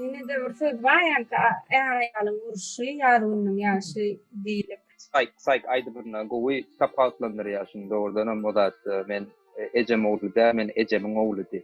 Ýene-de bir söz bar ýaňky är-aýalyň urşy, ýar gününiň ýaşy diýlip. Saýk, saýk aýdymynda gowy tapawutlandyrýar şuny dogrudanam o zat men ejem ogly däl men ejemiň ogludy.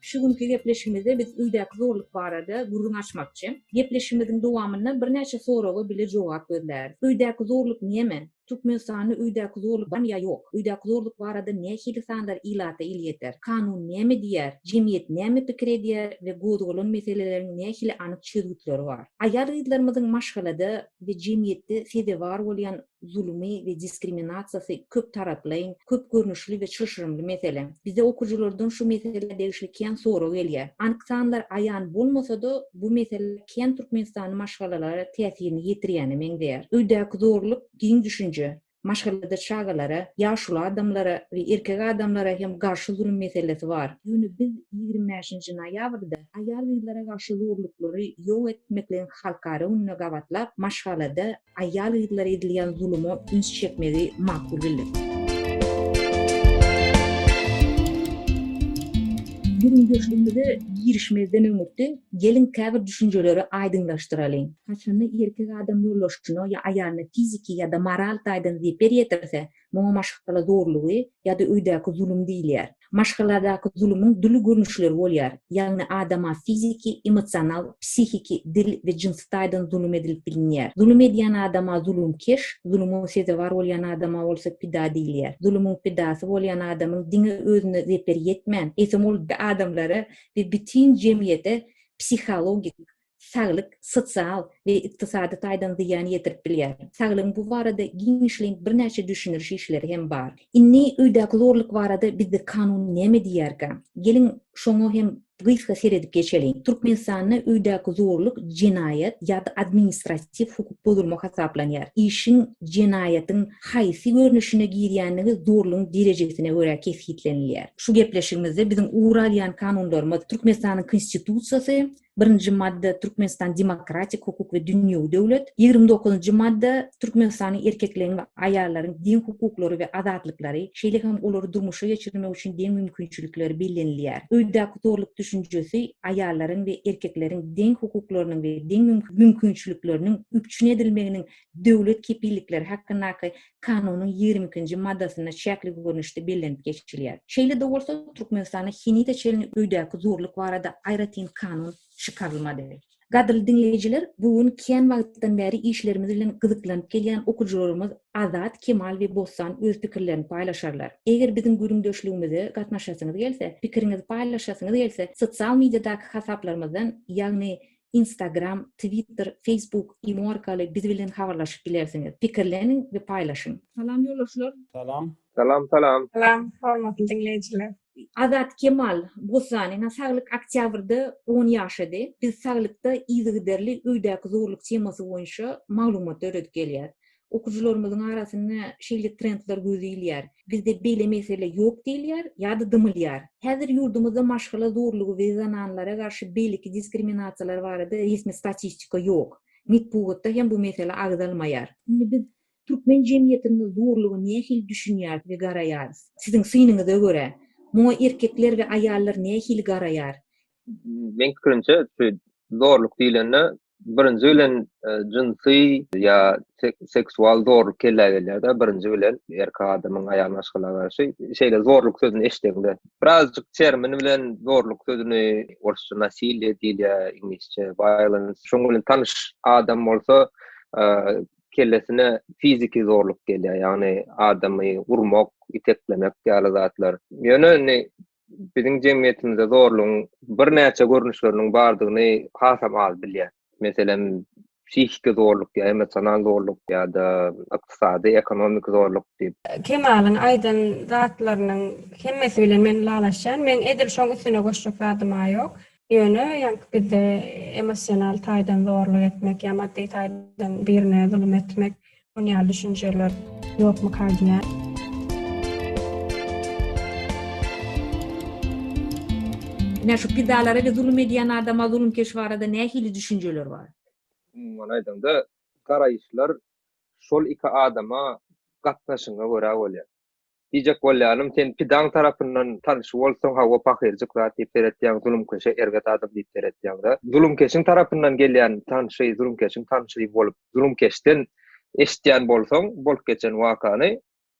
Şu günki gepleşigimizde biz öýdäki zorluk barada gürrüň açmakçy. Gepleşigimiziň dowamynda birnäçe soraga bile jogap gözläris. Öýdäki zorluk näme? Türkmenistanda öýdäki zorluk barmy ýa ýok? Öýdäki zorluk barada nähili sanlar ilata elýeter? Kanun näme diýýär? Jemgyýet näme pikir edýär we gozgalan meseleleriň nähili anyk çözgütleri bar? Aýal-gyzlarymyzyň maşgalada we jemgyýetde sezewar bolýan zulmy we diskriminasiýasy köptaraplaýyn, köp görnüşli we çylşyrymly mesele. Bize okyjylardan şu meselä degişli kän sorag gelýär. Anyk sanlar aýan bolmasa-da, bu mesele kän türkmenistanly maşgalalara täsirini ýetirýäne meňzeýär. Öýdäki zorluk giň düşünje. Maşgalada çagalara, ýaşuly adamlara we erkek adamlara hem garşy zulum meselesi bar. Ýöne biz ýigrimi bäşinji noýabrda aýal-gyzlara garşy zorluklary ýok etmekligiň halkara gününi gabatlap, maşgalada Aýal-gyzlara edilýän zuluma üns çekmegi makul bildik. Gürrüňdeşligimize girişmezden öňürti, geliň käbir düşünjeleri aýdyňlaşdyralyň. Haçanda erkek adam ýoldaşyna ýa aýalyna fiziki ýa-da moral taýdan zeper ýetirse, Muňa maşgala zorlugy ýa-da öýdäki zulum diýilýär. Maşgaladaky zulumyň dürli görnüşleri bolýar, ýagny adama fiziki, emosional, psihiki, dil we jynsy taýdan zulum edilip bilinýär. Zulum edýän adama zulumkeş, zuluma sezewar bolýan adama bolsa pida diýilýär. Zulumyň pidasy bolýan adamyň diňe özüne zeper ýetmän, eýsem ol adamlara we bütin jemgyýete psihologik saglyk, sosial we ykdysady taýdan zyýan ýetirip bilýär. Saglygyň bu barada giňişleýin birnäçe düşündiriş işleri hem bar. Indi öýdäki zorluk barada bizde kanun näme diýýärkä? Geliň, şoňa hem gysga seredip geçeliň. Türkmenistanda öýdäki zorluk jenaýat ýa-da administratiw hukuk bozulma hasaplanýar. Işiň jenaýatyň haýsy görnüşine girýändigi zorlugyň derejesine görä kesgitlenilýär. Şu gepleşigimizde biziň ugur alýan kanunlarymyz Türkmenistanyň Konstitusiýasy, Birinji madda, Türkmenistan demokratik, hukuk we dünýewi döwlet. Ýigrimi dokuzynjy madda, Türkmenistanyň erkekleriň we aýallaryň deň hukuklary we azatlyklary, şeýle hem olary durmuşa geçirmek üçin deň mümkinçilikleri bellenilýär. Öýdäki zorluk düşünjesi aýallaryň we erkekleriň deň hukuklarynyň we deň mümkinçilikleriniň üpjün edilmeginiň döwlet kepillikleri hakyndaky Kanunyň ýigrimi ikinji maddasynda çäkli görnüşde bellenip geçilýär. Şeýle-de bolsa, Türkmenistanda henize çenli öýdäki zorluk barada aýratyn kanun çykarylmady. Gadyrly diňleýjiler, bu gün kän wagtdan bäri işlerimiz bilen gyzyklanyp gelýän okyjylarymyz Azat, Kemal we Bossan öz pikirlerini paýlaşarlar. Eger biziň gürrüňdeşligimize gatnaşasyňyz gelse, pikiriňizi paýlaşasyňyz gelse, sosial mediadaky hasaplarymyzdan, ýagny, Instagram, Twitter, Facebook, Imo arkaly biz bilen habarlaşyp bilersiňiz. Pikirleniň we paýlaşyň! Salam ýolagçylar! Salam! Salam salam! Salam hormatly diňleýjiler! Azat Kemal Bossanyň saglyk oktýabrda on ýaşady. Biz saglykda yzygiderli öýdäki zorluk temasy boýunça maglumat döredip gelýäs. okyjylarymyzyň arasynda şeýle trendler göze ilýär. Bizde beýle mesele ýok diýilýär ýa-da dymylýar. Häzir ýurdumyzda maşgala zorlugy we zananlara garşy beýleki diskriminasiýalar barada resmi statistika ýok. Metbugatda hem bu mesele agzalmaýar. Indi biz türkmen jemgyýetinde zorluga nähili düşünýäris we garaýarys? Siziň synyňyza görä, muňa erkekler we aýallar nähili garaýar? Meň pikirimçe, şu zorluk diýlende, birinji bilen e, jynsy ýa seksual zorluk kellä gelýärde birinji bilen erkek adamyň aýal maşgala garşy şeýle zorluk sözüni eşdeňde birazjyk termin bilen zorluk sözüni orsça nasilýe diýilýär iňlisçe violence şoň bilen tanyş adam bolsa e, kellesine fiziki zorluk gelýär ýagny adamy urmak iteklemek ýaly zatlar ýöne biziň jemgyýetimizde zorlugyň birnäçe görnüşleriniň bardygyny hasam az bilýär. Meselem, psihiki zorluk ýa emosional zorluk ýa-da ykdysady, ekonomiki zorluk diýip. Kemalyň aýdan zatlarynyň hemmesi bilen men ylalaşýan. Meň edil şoň üstüne goşjak zadym-a ýok. Ýöne ýaňky bizde emosional taýdan zorluk etmek ýa maddy taýdan birine zulum etmek şun ýaly düşünjeler ýokmyka diýýän. Ine şu pidalara we zulum edýän adama zulumkeş barada nähili düşünjeler bar? Umuman aýdaňda garaýyşlar şol iki adama gatnaşygyna görä bolýar. Diýjek bolýanym sen pidaň tarapyndan tanşy bolsaň hawa pahyrjyk zat diýip seretýäň zulumkeşe erbet adam diýip seretýäňdä zulumkeşiň tarapyndan gelýän tanşy zulumkeşiň tanşy bolup zulumkeşden eşitýän bolsaň bolup geçen wakany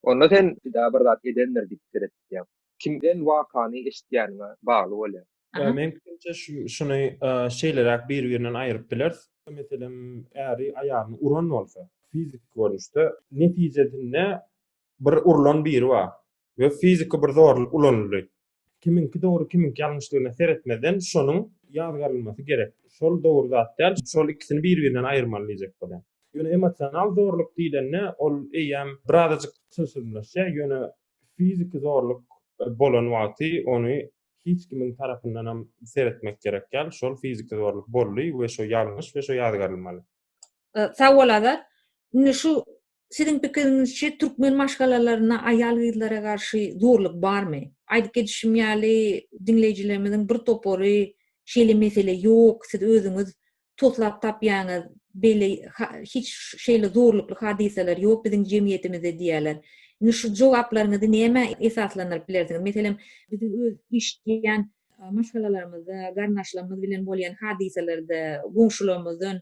onda sen pida bir zat edendir diýip seretýäň kimden wakany eşitýäniňe bagly bolýar. Ýa meň pikirimçe şu şuny şeýleräk biri birinden aýryp bileris. Meselem äri aýalyny uran bolsa fiziki görnüşde netijesinde bir urlan biri bar we fiziki bir zorluk ulanyldy. Kimiňki dogry kimiňki ýalňyşdygyna seretmezden şonuň ýazgarylmasy gerek. Şol dogry zat däl, şol ikisini bir-birinden aýyrmaly diýjek bolýan. Ýöne emosional zorluk diýlende ol eýýäm birazajyk çylşyrymlaşýar, ýöne fiziki zorluk bolan wagty ony hiç kimiň tarapyndanam seretmek gerek däl, şol fiziki zorluk boldy we şo ýalňyş we şo ýazgarylmaly. Sag bol Azat. Indi şu Siziň pikiriňizçe türkmen maşgalalarynda aýal-gyzlara garşy zorluk barmy? Aýdyp geçişim ýaly diňleýjilerimiziň bir topary şeýle mesele ýok, siz özüňiz toslap tapýaňyz, beýle hiç şeýle zorlukly hadysalar ýok biziň jemgyýetimizde diýýärler. Indi şu jogaplaryňyzy nämä esaslandyryp bilersiňiz? Meselem, biziň öz işleýän Maşgalalarymyzda, garyndaşlarymyz bilen bolýan hadysalarda, goňşularymyzdan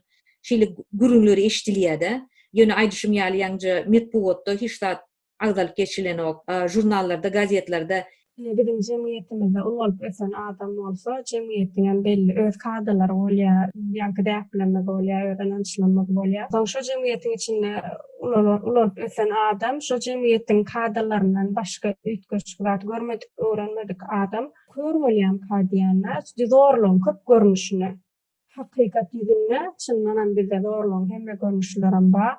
şeýle gürrüňler eşidilýär-de. Ýöne aýdyşym ýaly ýaňja metbugatda hiç zat agzalyp geçilenok. Žurnallarda, gazetlerde. Ine biziň jemgyýetimizde ulgalyp ösen adam bolsa, jemgyýetiňem belli öz kadalary bolýar, ýaňky däplerimiz bolýar, öz ynançlarymyz bolýar. Soň şo jemgyýetiň içinde ulalyp ösen adam şo jemgyýetiň kadalaryndan başga üýtgeşik zat görmedik. öwrenmedik adam kör bolýamyka diýende zorlugyň köp görnüşini hakykat ýüzünde çyndanam bizde zorlugyň hemme görnüşlerem bar.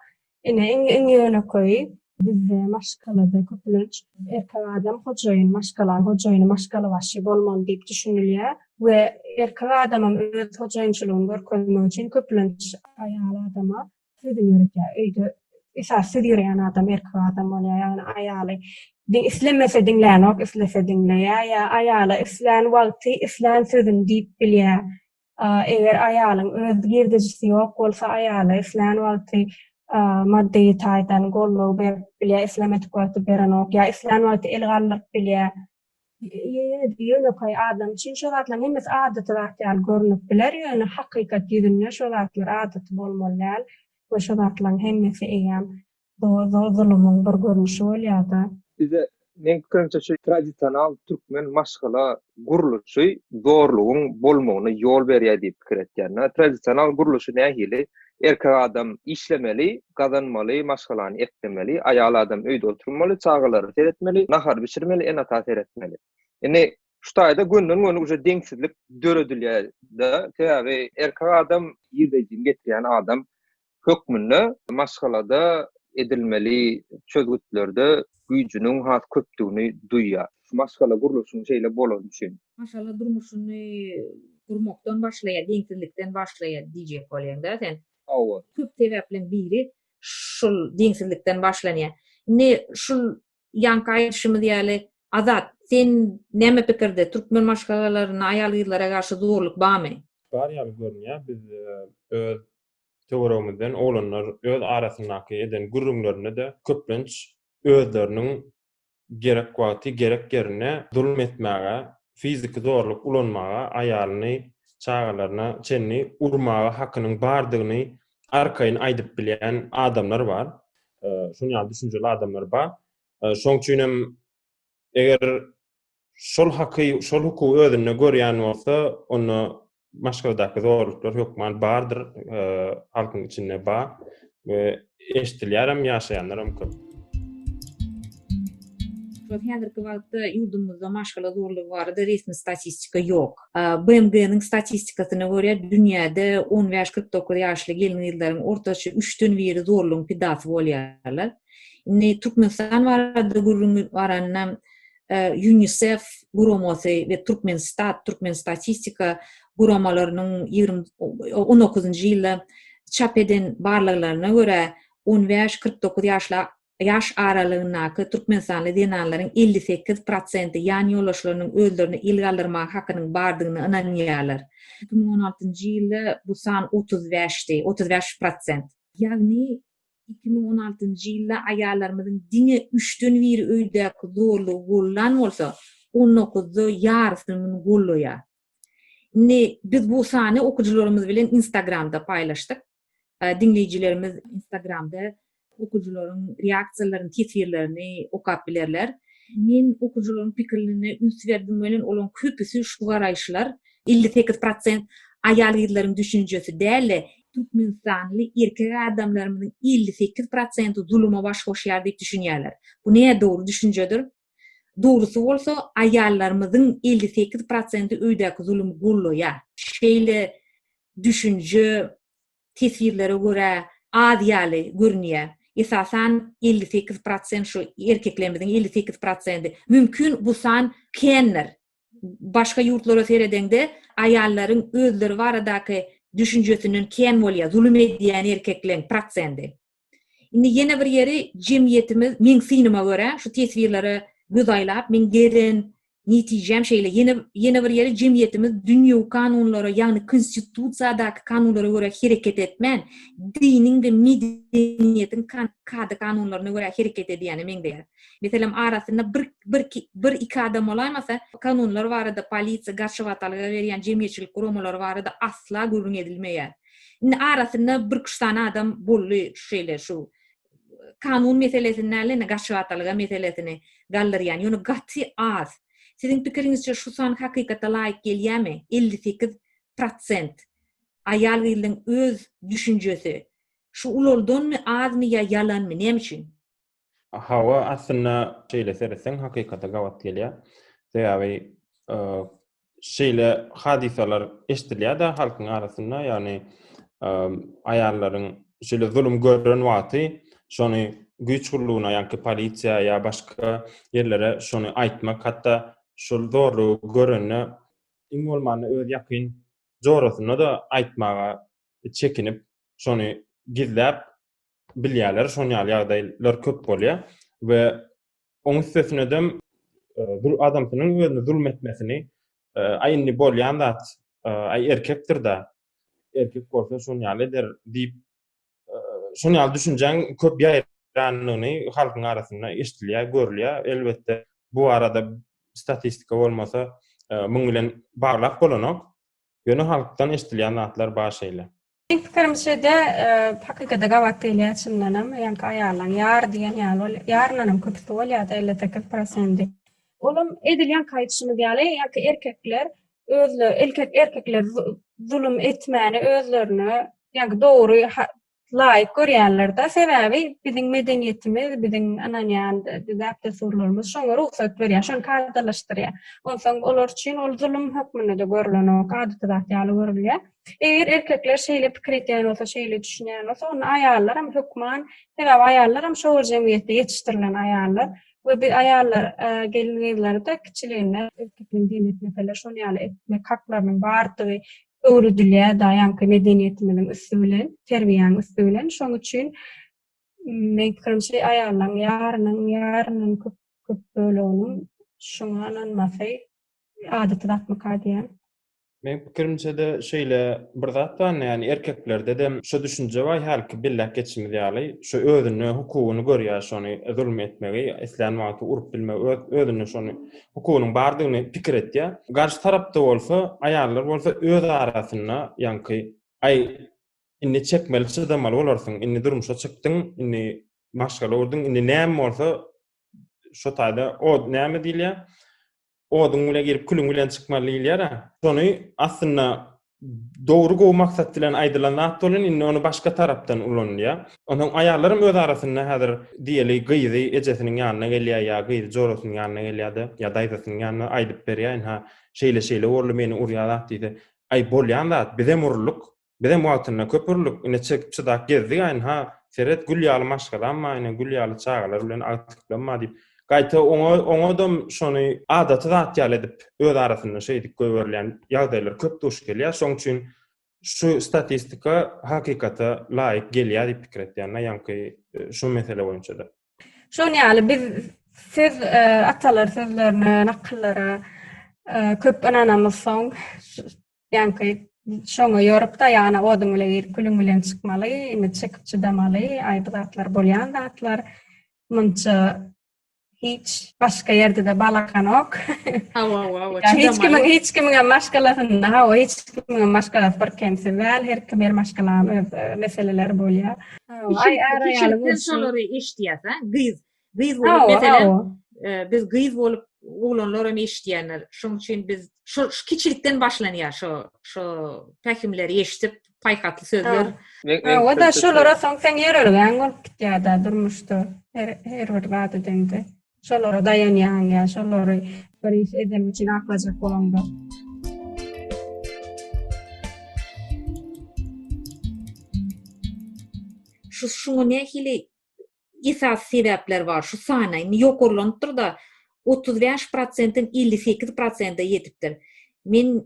Ine iň ýönekeýi bizde maşgalada köplenç erkek adam hojaýyn maşgalaň hojaýyny maşgalabaşy bolmaly diýip düşünilýär we erkek adamam öz hojaýynçylygyny görkezmek üçin köplenç aýal adama Sizi ýöretýär. Öýde esasy siz ýöreýän adam erkek adam bolýar. Ýagny aýaly islemese diňlänok, islese diňleýär. Ýa aýala islän wagty islän sözüni diýip bilýär. Eger aýalyň öz girdejisi ýok bolsa, aýala islän wagty maddy taýdan goldaw berip bilýär, islemedik wagty berenok. Ýa islän wagty el galdyryp bilýär. Ýönekeý adam üçin şo zatlaryň hemmesi adaty zat ýaly görnüp biler, ýöne hakykat ýüzünde şo zatlar adaty bolmaly däl we şo zatlaryň hemmesi eýýäm doly zulumyň bir görnüşi bolýar-da. Bize, meň pikirimçe, şu tradisional türkmen maşgala gurluşy zorlugyň bolmagyna ýol berýär diýip pikir etýän. Tradisional gurluşy nähili? Erkek adam işlemeli, gazanmaly, maşgalany eklemeli, aýal adam öýde oturmaly, çagalary seretmeli, nahar bişirmeli, ene-ata seretmeli. Indi şu taýda gönden-göni uje deňsizlik döredilýär-de, sebäbi erkek adam ýigdejini getirýän adam hökmünde maşgalada edilmeli çözgütlerde güýjüniň has köpdügini duýýar. Maşgala gurluşyň şeýle bolany üçin. Maşgala durmuşyny gurmakdan başlaýar, deňsizlikden başlaýar diýjek bolýaňda sen. Hawa. Köp sebäpliň biri şul deňsizlikden başlanýar. Indi şul ýanky aýdyşymyz ýaly Azat, sen näme pikirde, türkmen maşgalalarynda aýal-gyzlara garşy zorluk barmy? Bar ýaly görünýär. Biz öz töweregimizden oglanlar öz arasyndaky eden gürrüňlerinde-de köplenç özleriniň gerek wagty, gerek ýerinde zulum etmäge, fiziki zorluk ulanmaga, aýalyny, çagalaryna çenli urmaga hakynyň bardygyny arkaýyn aýdyp bilýän adamlar bar. Şunuň ýaly düşünjeli adamlar bar. Şoň üçin hem Eger şol haky, şol hukugy özünde görýän bolsa, onda maşgaladaky zorluklar hökman bardyr, e, halkyň içinde bar we eşidilýär hem, ýaşaýanlar hem köp. Şol häzirki wagtda ýurdumyzda maşgala zorlugy barada resmi statistika ýok. BMG-niň statistikasyna görä, dünýäde 15-49 ýaşly gelin-gyzlaryň ortaça üçden biri zorlugyň pidasy bolýarlar. Indi Türkmenistan barada gürrüň baranda UNICEF guramasy we Türkmenstat, Türkmen statistika guramalarynyň ýigrimi on dokuzynjy ýylda çap eden barlaglaryna görä, on bäş-kyrk dokuz ýaşly ýaş aralygyndaky türkmenistanly zenanlaryň elli sekiz prosenti ýan ýoldaşlarynyň özlerini il galdyrmaga hakynyň bardygyna ynanýarlar. Iki müň on altynjy ýylda bu san otuz bäşdi, otuz bäş prosent. Ýagny Iki müň on altynjy ýylda aýallarymyzyň diňe üçden biri öýdäki zorlugy gollan bolsa, on dokuzda ýarysyny muny gollaýar. Indi biz bu sany okyjylarymyz bilen Instagramda paýlaşdyk. Diňleýjilerimiz Instagramda okyjylaryň reaksiýalaryny, teswirlerini okap bilerler. Men okyjylaryň pikirlerine üns berdim welin, olaryň köpüsi şu garaýyşlar, elli sekiz prosent, aýal-gyzlaryň düşünjesi däl-de, Türkmenistanly erkek adamlarymyzyň elli sekiz prosenti zuluma baş goşýar diýip düşünýärler. Bu nädogry düşünjedir. Dogrusy bolsa, aýallarymyzyň elli sekiz prosenti öýdäki zulumy gollaýar. Şeýle düşünje teswirlere görä az ýaly görünýär. Esasan, elli sekiz prosent şu erkeklerimiziň elli sekiz prosenti. Mümkin, bu san kändir. başga ýurtlara seredeňde aýallaryň özleri baradaky düşünjesinden kän bolýar, zulum edýän erkekleň prosendi. Indi ýene bir ýeri jemgyýetimiz meň synyma görä şu teswirlere göz aýlap meň gelen netijäm şeýle ýene ýene bir ýeri jemgyýetimiz dünýewi kanunlara ýagny konstitusiýadaky kanunlara görä hereket etmän diniň we medeniýetiň kada kanunlaryna görä hereket edýäne meňzeýär. Meselem, arasynda bir, bir, bir iki adam bolaýmasa, kanunlar barada, polisiýa, garşy watalyga berýän jemgyýetçilik guramalary barada asla gürrüň edilmeýär. Indi arasynda bir üç sany adam boldy şeýle şu kanun meselesini däl indi garşy watalyga meselesini galdyrýan, ýöne gaty az. Siziň pikiriňizçe şu san hakykata laýyk gelýärmi? Elli sekiz prosent aýal-gyzyň öz düşünjesi şu ululdanmy, azmy ýa ýalanmy, näme üçin? Hawa, aslynda şeýle seretseň hakykata gabat gelýär. Sebäbi e, şeýle hadysalar eşidilýär-de halkyň arasynda, ýagny e, aýallaryň şeýle zulum gören wagty şony güýç gullugyna, ýa-da polisiýa ýa başga ýerlere şony aýtmak, hatda şol zorlugy görende iň bolmanda öz ýakyn jorasyna-da aýtmaga çekinip, şony gizläp, bilýärler, şon ýaly ýagdaýlar köp bolýar we oň üstesine dem bir adamsynyň özüne zulm etmesini, aý indi bolýan zat, aý erkekdir da, erkek bolsa şon ýaly eder diýip, şon ýaly düşünjäň köp ýaýrandygyny halkyň arasynda eşidilýär, görülýär. Elbetde, bu barada statistika bolmasa, muň bilen baglap bolanok. Ýöne halkdan eşdilýän zatlar bar şeýle. Meň pikirimçede, hakykada gabat gelýär çyndanam, ýaňky aýallaň ýar diýen ýaly bolýar, ýaryndanam köpüsi bolýada elli sekiz prosendi. Olam edil ýaňky aýdyşymyz ýaly, ýaňky erkekler özle erkek erkekler zulum etmäne özlerine ýaňky dogry laýyk görýärler-de, sebäbi biziň medeniýetimiz, biziň ynanýan däp-dessurlarymyz şoňa rugsat berýär, şony kadalaşdyrýar. Onsoň olar üçin ol zulum hökmünde-de görlenok, adaty zat ýaly görülýär. Eger erkekler şeýle pikir edýän bolsa, şeýle düşünýän bolsa, onda aýallar hem hökman, sebäbi aýallar hem şo bir jemgyýetde ýetişdirilen aýallar we biz aýallar e, gelin-gyzlary-da kiçiliginden erkekligiň dini etmeseler, şonuň ýaly etmek haklarynyň bardygy öwredilýär daýanky medeniýetimiziň üsti bilen, terbiýäň üsti bilen. Şoň üçin men pikirimçe aýallaryň ýarynyň, ýarynyň köp köp böleginiň şuňa ynanmasy adaty zatmyka diýýän. Men pikirimçe-de şeýle bir zat bar, ýani erkeklerde-de şu düşünje bar, hälki belläp geçimiz ýaly, şu özüne hukugyny görýär şony zulum etmegi, islän wagty urup bilmegi, özüne şony hukugynyň bardygyny pikir etýär. Garşy tarapda bolsa, aýallar bolsa öz arasynda, ýaňky, Aý, indi çekmeli, çydamaly bolarsyň, indi durmuşa çykdyň, indi maşgala gurduň, indi näme bolsa, şu taýda od, näme diýilýär, oduň bile girip, külüň bilen çykmaly diýilýär-ä. Şony aslynda dogry gowy maksat bilen aýdylan zat bolan indi ony başga tarapdan ulanylýa. Onsoň aýallaram öz arasynda häzir diýeli gyzy ejesiniň ýanyna gelýä ýa gyzy jorasynyň ýanyna gelýäde ýa daýzasynyň ýanyna aýdyp berýä indi ha şeýle şeýle boldy meni urýa zat diýdi aý bolýan zat bizem uruldyk bizem wagtynda köp uruldyk ine çekip çydap gezdik aýn ha seret gül ýaly maşgalam bar ine gül ýaly çagalar bilen agtyklym bar diýip Gaýta oňa oňadam şony adaty zat ýaly edip öz arasynda şeýdip goýberilýän ýagdaýlar köp duş gelýär. Şoň üçin şu statistika hakykata laýyk gelýär diýip pikir etýän men ýaňky e, şu mesele boýunça-da. Şoň ýaly biz söz e, atalar sözlerine, nakyllara e, köp ynanamyzsoň, Ýaňky şoňa ýorup-da, ýana oduň bile girip, külüň bilen çykmaly, indi çekip çydamaly, aý bu zatlar bolýan zatlar. Munça hiç başga ýerde-de balakanok. Hawa, hawa, hawa. Hiç kimiň, hiç kimiň hem maşgalasynda, hawa, hiç kimiň hem maşgalasy bir kemsiz däl, her kim her maşgalanyň öz e, meseleleri bolýar. Aý, ara ýaly bolsun. Şolary eşitýäs, ha, gyz. Gyz bolup meselem, biz gyz bolup oglanlar hem eşitýänler. Şoň üçin biz şu kiçilikden başlanýar şu şu pähimleri eşidip, paýhasly sözler. Hawa da şolara soň sen ýörelgäň bolup gitýär-de durmuşda. Her her bir zat edende şolara daýanýaň ýa şolary bir iş eden üçin aklajak bolaňda. Şu şuňa nähili esasy sebäpler bar. Şu sana indi ýokarlanypdyr-da, otuz bäş prosentden elli sekiz prosente ýetipdir. Men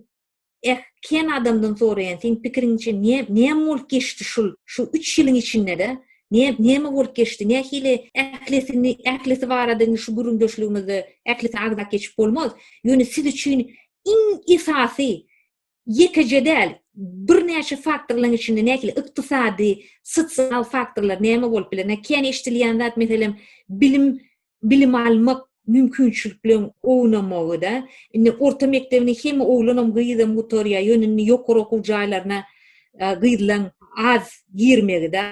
eh, kän adamdan soraýan, seň pikiriňçe, ne, näme bolup geçdi şul, şu üç ýylyň içinde-de, ne, näme bolup geçdi, nähili ählisini, ählisi barada indi şu gürrüňdeşligimizde ählisini agzap geçip bolmaz, ýöne siz üçin iň esasy ýekeje däl, birnäçe faktorlaryň içinde nähili ykdysady, sosial faktorlar näme bolup biler? Näme kän eşidilýän zat, meselem, bilim, bilim almak mümkinçilikleriň ownamagy-da. Indi orta mekdebini hem oglanam, gyzam gutarýar, ýöne indi ýokary okuw jaýlaryna gyzlaryň az girmegi-de,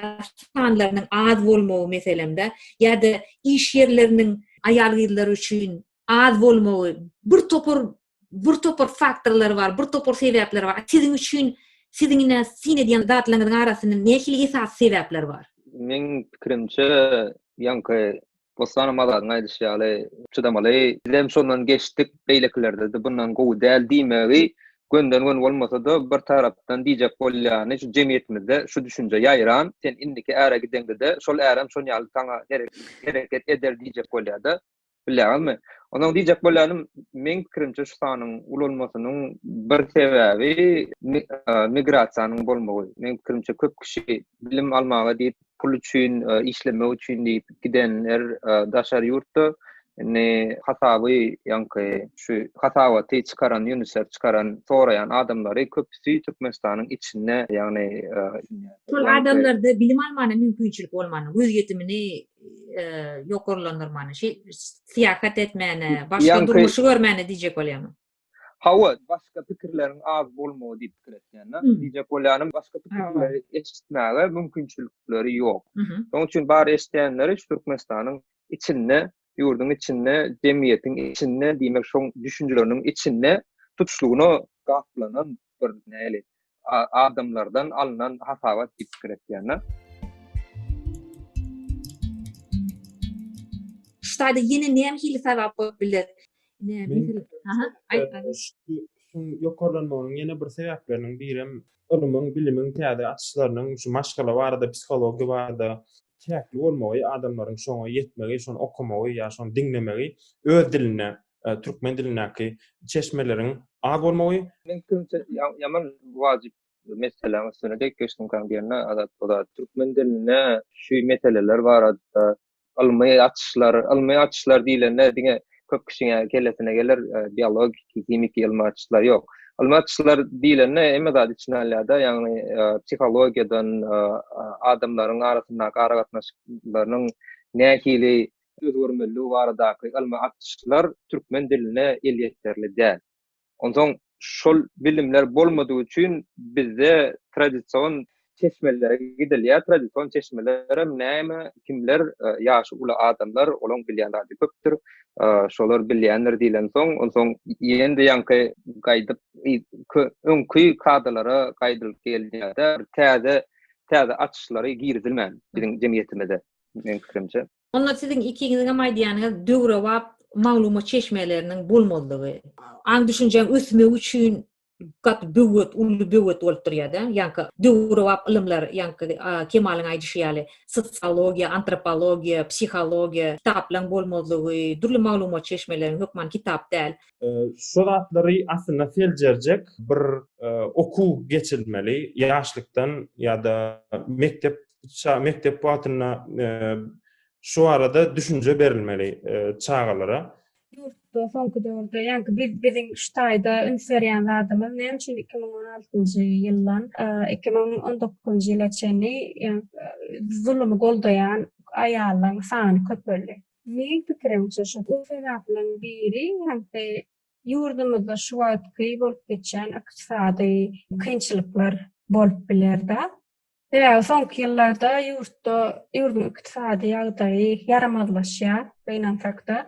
sanlarynyň az bolmagy meselem-de, ýa-da iş ýerleriniň aýal-gyzlar üçin az bolmagy, birtopar bir topar faktorlar bar, bir topar sebäpler bar. Siziň üçin siziň ine syn edýän zatlaryňyzyň arasynda nähili esasy sebäpler bar? Meň pikirimçe, ýaňky Bossan Azadyň aýdyşy ýaly çydamaly. Biz hem şondan geçdik, beýlekilerde-de bundan gowy däl diýmegi gönden-gön bolmasa-da, bir tarapdan diýjek bolýany, şu jemgyýetimizde şu düşünje ýaýran, sen indiki äre gideňde-de, şol ärem şoň ýaly saňa hereket eder diýjek bolýar-da. bilýäňizmi? Onsoň diýjek bolýanym, meň pikirimçe şu sanyň ulalmasynyň bir sebäbi migrasiýanyň bolmagy. Meň pikirimçe köp kişi bilim almaga diýip, pul üçin, işlemek üçin diýip gidenler daşary ýurtda. Indi hasaby ýaňky şu hasabaty çykaran ýunusef çykaran soraýan adamlary köpüsi Türkmenistanyň içinde, ýagny şol adamlarda bilim almana mümkinçilik bolmany, göz ýetimini ýokarlandyrmany, şeý syýahat etmäni, başga durmuşy görmäni diýjek bolýarmy? Hawa, başga pikirleriň az bolmagy diýip pikir etýän-de. Diýjek bolýanym, başga pikirleri eşitmäge mümkinçilikleri ýok. Şonuň üçin bar eşidýänleri şu Türkmenistanyň içinde, ýurduň içinde, jemgyýetiň içinde, diýmek, şoň düşünjeleriniň içinde tutuşlygyna gaplanan bir näli adamlardan alnan hasabat diýip pikir etýän-de. Ştaýda ýene näme hili sabap bolup biler? Ne, misal, aha, aýt, aýt. Şuň ýokarlanmagynyň ýene bir sebäpleriniň birem ylmyň, bilimiň täze açyşlarynyň şu maşgala barada, psihologiýa barada çäkli bolmagy, adamlaryň şoňa ýetmegi, şony okamagy ýa şony diňlemegi öz dilinde türkmen dilindäki çeşmeleriň az bolmagy Men kimse ýaman wajyp meseläň üstüne dek geçdim kan diýende Azat Boda türkmen dilinde şu meseleler barada ylmy açyşlar ylmy açyşlar diýlende diňe köp kişiň kellesine geler biologiki himiki ylmy açyşlar ýok ylmy açyşlar diýlende hemme zady içine alýarda ýagny psihologiýadan adamlaryň arasyndaky aragatnaşyklarynyň nähili özgermezligi baradaky ylmy açyşlar türkmen diline elýeterli däl. Onsoň şol bilimler bolmadygy üçin bizde tradision çeşmelere gidilýär, tradision çeşmelerem näme, kimler, ýaşy uly adamlar, olaň bilýän zady köpdür, şolar bilýändir diýlensoň, onsoň ýene-de ýaňky gaýdyp öňki kadalara gaýdylyp gelýär-de, bir täze, täze açyşlary girizilmän biziň jemgyýetimize. meň pikirimçe. Onda siziň ikiňiziňem aýdýanyňyz döwrebap maglumat çeşmeleriniň bolmazlygy. Aň-düşünjäň ösmegi üçin gaty böwet, uly böwet bolup durýar-da. Ýaňky döwrebap ylymlar, ýaňky Kemalyň aýdyşy ýaly, sosiologiýa, antropologiýa, psihologiýa, kitaplaryň bolmazlygy, dürli maglumat çeşmeleriň, hökman kitap däl. Şu zatlary aslynda seljerjek bir okuw geçirilmeli, ýaşlykdan ýa-da mekdep ça mekdep wagtynda e, şu barada düşünje berilmeli e, çagalara. Ýurtda soňky döwürde, ýaňky biz biziň şu taýda üns berýän zadymyz näme üçin 2016-njy ýyldan e, 2019-njy ýyla çenli e, zulmy goldaýan aýallaryň sany köpeldi. Meň pikirimçe şu bu sebäpleriň biri hem-de ýurdumyzda şu wagtky bolup geçýän ykdysady kynçylyklar bolup biler-de. Sebäbi soňky ýyllarda ýurtda ýurduň ykdysady ýagdaýy ýaramazlaşýar, gynansak-da.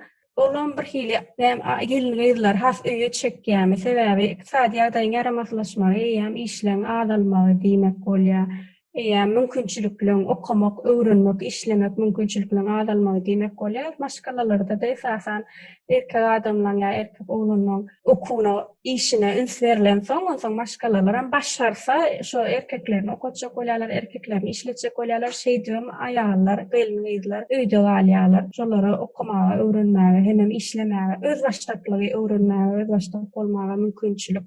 Olam bir hili hem gelin-gyzlar has öýe çekýärmi? Sebäbi ykdysady ýagdaýyň ýaramazlaşmagy eýýäm işleň azalmagy diýmek bolýar. Eýýäm mümkinçilikleň, okamak, öwrenmek, işlemek mümkinçilikleň azalmagy diýmek bolýar. Maşgalalarda-da esasan erkek adamlaň ýa erkek oglanlaň okuwyna, işine üns berlensoň, onsoň maşgalalaram başarsa, şo erkeklerini okatjak bolýarlar, erkeklerini işletjek bolýarlar, şeýdibem aýallar, gelin-gyzlar öýde galýarlar. Şolara okamaga, öwrenmäge hemem işlemäge, özbaşdaklygy öwrenmäge, özbaşdak bolmaga mümkinçilik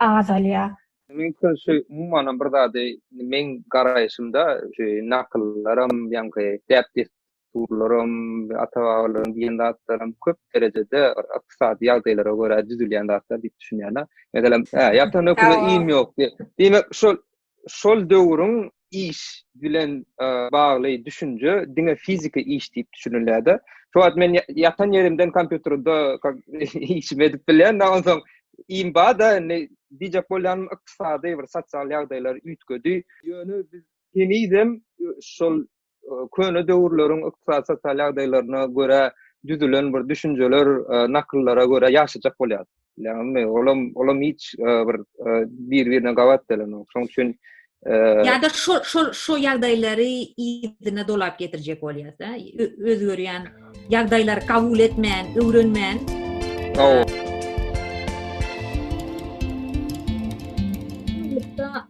azalýar. Meniň şu umumanam bir zady, meň garaýşymda, şu nakyllaram, ýaňky däp-dessurlaram, Dessturlaram, ata-babalaryň diýen zatlaram köp derejede ykdysady ýagdaýlara görä düzülýän zatlar diýip düşünýän-ä. Meselem, hä, ýatan höküne iým ýok diýip. Diýmek, şol şol döwrüň iş bilen bagly düşünje diňe fiziki iş diýip düşünilýär-de. Şu wagt men ýatan ýerimden kompýuterde işimi edip bilýän, nä onsoň iým bar-da, indi diýjek bolýanym ykdysady bir sosial ýagdaýlar üýtgedi. Ýöne biz henizem şol köne döwürleriň ykdysady sosial ýagdaýlaryna görä düzülen bir düşünjeler, e, nakyllara görä ýaşajak bolýar. Ýagny olam olam hiç e, bir e, bir-birine gabat gelenok. Şoň üçin ýa-da şu şu şu ýagdaýlary ýerine dolap getirjek bolýar-da. Özgerýän ýagdaýlary kabul etmän, öwrenmän.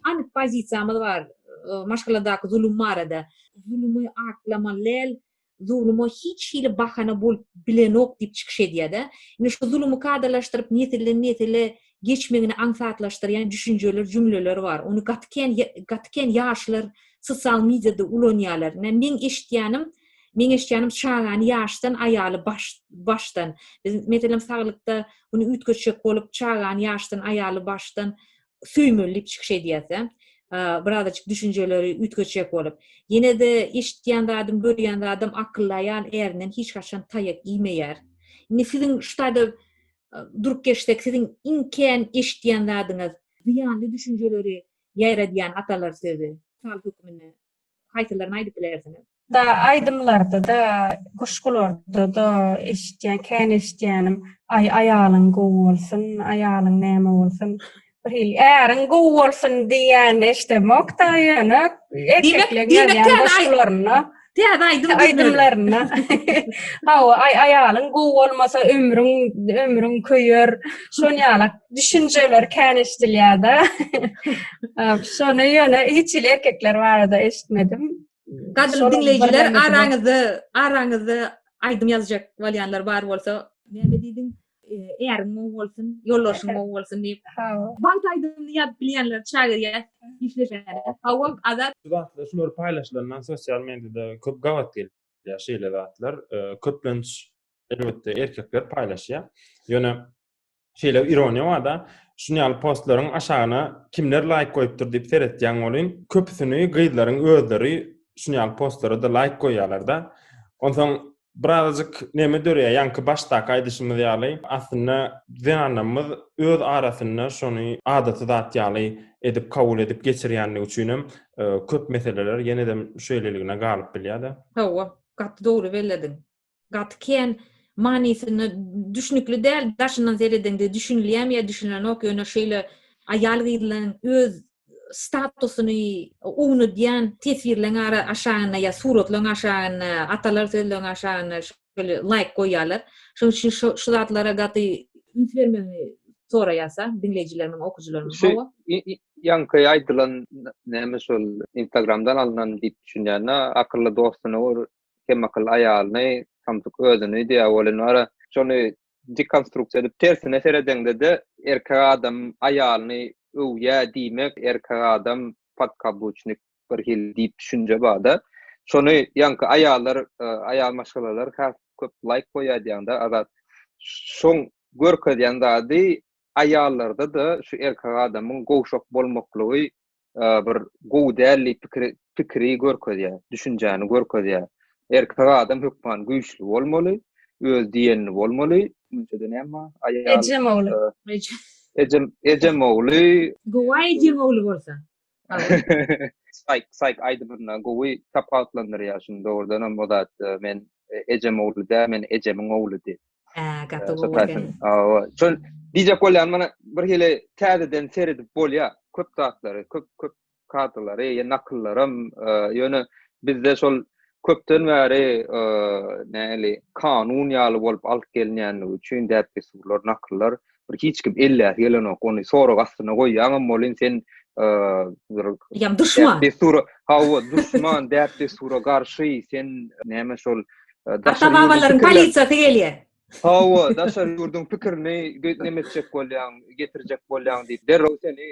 Anyk pozisiýamyz bar. maşgaladaky zulum barada zulumy aklama lel zuluma hiç hili bahana bolup bilenok diýip çykyş edýärde indi şu zulumy kadalaşdyryp nesilden nesile geçmegini aňsatlaşdyrýan düşünjeler jümleler bar ony gaty kän gaty kän ýaşlar sosial mediada ulanýarlar indi meň eşitýänim meň eşitýänim çagany ýaşdan aýaly baş başdan biz meselem saglykda bunu üýtgetjek bolup çagany ýaşdan aýaly başdan söýmeli diýip çykyş edýärse, birazajyk düşünjeleri üýtgetjek bolup, ýene-de eşitýän zadym, görýän zadym akylly aýal ärinden hiç haçan taýak iýmeýär. Indi siziň şu taýda durup geçsek, siziň iň kän eşitýän zadyňyz, zyýanly düşünjeleri ýaýradýan atalar sözi, mysal hökmünde haýsylaryny aýdyp bilersiňiz? Da aýdymlarda-da, guşgularda-da eşitýän, kän eşitýänim, Aý, aýalyň gowy bolsun, aýalyň näme bolsun, bir hili äriň gowy bolsun diýýänini eşidemok-da, ýöne erkekleň ýazýan goşgularynda, täze aýdym aýdymlarynda, Hawa, aý, aýalyň gowy bolmasa, ömrüň, ömrüň köýer, şon ýaly düşünjeler kän eşidilýär-de. Şony ýöne hiç hili erkekler barada eşitmedim. Gadyrly diňleýjiler araňyzda araňyzda aýdym ýazjak bolýanlar bar bolsa, näme diýdiň? Äriň gowy bolsun, ýolbaşyň gowy bolsun diýip. Wagt aýdymyny ýazyp bilýänler çagyrýar, işleşýär. Hawa, Azat. Şu zatlar şular paýlaşylandan sosial mediada köp gabat gelýär şeýle zatlar. Köplenç elbetde erkekler paýlaşýar. Ýöne şeýle ironiýa bar-da, şuny ýaly postlaryň aşagyna kimler laýk goýupdyr diýip seretýäň welin, köpüsini gyzlaryň özleri şuny ýaly postlara-da laýk goýýarlar-da. Onsoň birazajyk neme döreýär, ýaňky başdaky aýdyşymyz ýaly, aslynda zenanlarymyz öz arasynda şuny adaty zat ýaly edip kabul edip geçirýändigi üçinem köp meseleler ýene-de şeýleligine galyp bilýär-de. Hawa, gaty dogry bellediň. gaty kän manysyny düşnükli däl daşyndan seredeňde düşünilýämi ýa düşünilenok ýöne şeýle aýal gyzlaň öz statusyny ownudýan teswirleň ara aşagynda ýa suratlaň aşagynda atalar sözleň aşagynda şeýle laýk goýýalar şonuň üçin şo şu zatlara gaty üns bermegi soraýasa diňleýjilerimiň okujylarymyň hawa ýaňky aýdylan näme şol instagramdan alnan diýip düşünýän akylly dostuny gör Kemakl aýalyny, samsyk özüni diýýär welin wara, şony dekonstruksiýa edip tersine seredeňde-de, erkek adam aýalyny öwýär diýmek, erkek adam podkabuçnik bir hili diýip düşünje bar-da. Şony ýaňky aýallar, aýal maşgalalar has köp laýk goýýar diýýäňdä, Azat. Şoň görkezýän zady aýallarda-da şu erkek adamyň gowşak bolmaklygy bir gowy däl diýip pikiri pikiri görkezýär, düşünjäni görkezýär. Erkek adam hökman güýçli bolmaly, öz diýenini bolmaly. Münçede näme? Aýal. Ejem ogly. Ejem, ejem ogly. Gowy ejem ogly bolsa. Sayk, sayk aýdymyna gowy tapawutlandyrýar şuny dogrudan hem o zat men ejem ogly däl, men ejemiň ogly diýip. Aa, gaty gowy Sataşyn. eken. Awa. Şol diýjek bolýan mana bir hili täzeden seredip bolýar. Köp zatlary, köp köp kadrlary, ýa nakyllaram, e, ýöne bizde şol köpden bäri e, näli kanun ýaly bolup alyp gelinýändigi üçin däp-dessurlar, nakyllar bir hiç kim elläsi gelenok ony sorag astyna goýýaňam bolin sen ýam duşman dessura hawa duşman däp dessura garşy sen näme şol daşary babalaryň polisiýasy gelýär hawa daşary ýurduň pikirini näme etjek bolýaň getirjek bolýaň diýip derrew seni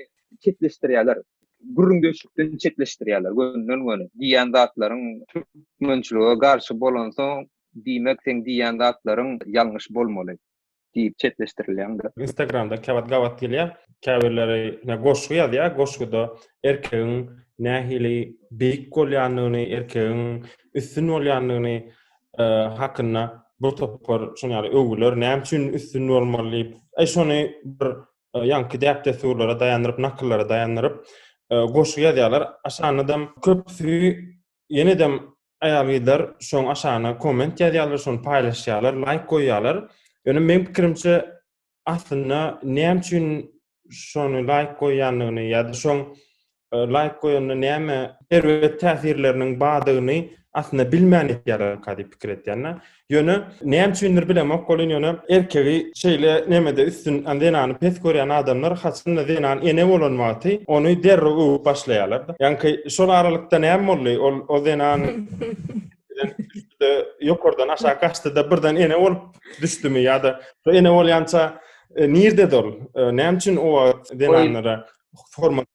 çetleşdirýärler gürrüňdeşlikden çetleşdirýärler gönden göni diýýän zatlaryň türkmençilige garşy bolansoň diýmek sen diýýän zatlaryň ýalňyş bolmaly diýip çetleşdirilýäňde. Instagramda käwagt gabat gelýär. Käbirleri ne goşgy ýazýar, goşguda erkegiň nähili beýik bolýandygyny, erkegiň üstün bolýandygyny hakynda bir topar şuny ýaly öwgüler, näme üçin üstün bolmaly diýip, eý şony bir ýaňky däp-dessurlara daýandyryp, nakyllara daýandyryp goşgy ýazýarlar. Aşanydam köpüsi Ýenedem aýal-gyzlar şoň aşagyna komment ýazýarlar, şony paýlaşýarlar, laýk goýýarlar. Ýöne meň pikirimçe, aslynda näme üçin şony laýk goýýandygyny ýa-da şoň e, laýk goýanda näme erbet täsirleriniň bardygyny aslynda bilmän etýärler diýip pikir etýän. Ýöne näme üçindir bilemok bolýan ýöne erkegi şeýle nemede üstün zenany pes görýän adamlar haçanda zenan ene bolan wagty ony derrew öwüp başlaýarlar. Ýaňky şol aralykda näme boldy? Ol o zenan ýokardan aşak gaçdy da birden ene bolup düşdümi ýa-da ene bolýança e, nirde dol? E, näme üçin o wagt zenanlara hormat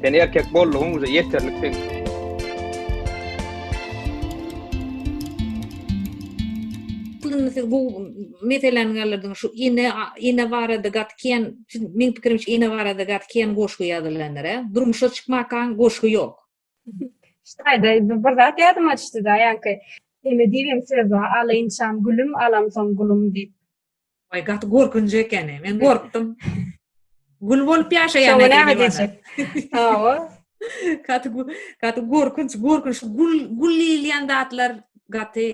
Sen erkek boldugyň uza ýeterlik sen. Puluny siz bu meseläni galyrdyn şu ine ine barada gatken men pikirimçe ine barada gatken goşgy ýazylandyr. Durmuşa çykmakaň goşgy ýok. Şaýda bir zat ýadyma düşdi-de, ýaňky Eme diýibem söz bar, alynçam gülüm, alamsoň gulum diýip. Oý, gaty gorkunç ekeni. Men gorkdum. Gül bolup ýaşaýan Soňra näme diýjek? Hawa. Gaty gaty gorkunç, gorkunç. Gül gül diýilýän zatlar gaty